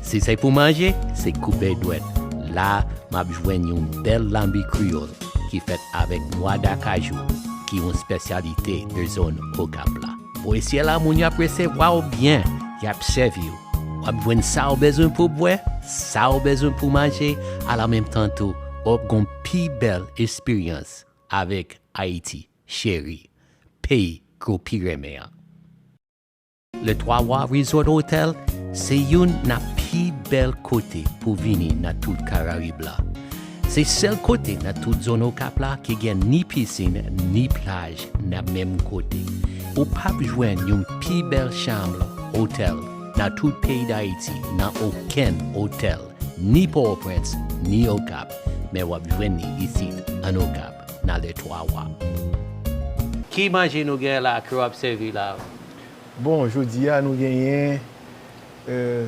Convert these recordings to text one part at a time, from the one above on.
Si se pou manje, se koupe dwèt. La, m ap jwenn yon bèl lanbi kreyòl ki fèt avèk nwa d'akajou, ki yon spesyalite de zòn Okap la. Polisye la, moun yo ap resevwa w byen, y ap sèvi w. W ap jwenn sa w bezwen pou bwè, sa w bezwen pou manje, alanmenmtan tou, w ap gen yon pi bèl esperyans avèk Ayiti cheri, peyi ke w pi renmen an. Le Twa Wa Resort Hotel se youn nan pi bèl kote pou vini nan tout Karayib la. Se sèl kote nan tout zòn Okap la ki gen ni pisin ni plaj nan menm kote. Ou pap jwenn yon pi bèl chanm otèl nan tout peyi Dayiti nan okenn otèl ni Pòtoprens ni Okap, men w ap jwenn li isit an Okap nan Le Twa Wa. Ki manje nou gen la ke w ap sèvi la? Bon jodi a nou genyen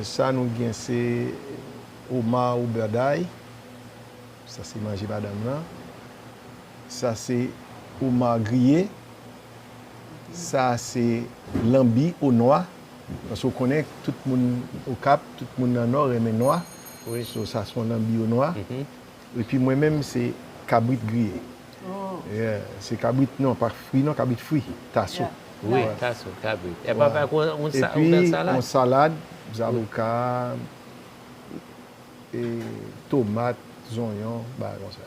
sa nou gen se omar ou bèday sa se manje madanm lan sa se omar griye sa se lanbi o nwa paske ou konnen tout moun okap tout moun nan nò renmen nwa sa se yon lanbi o nwa Epi mwen menm se kabrit griye. Yeah se kabrit non pa fri non kabrit fri taso. Wi taso kabrit epi apre ak yon bèl salad. Epi yon salad zaboka e tomat zonyon bagay konsa.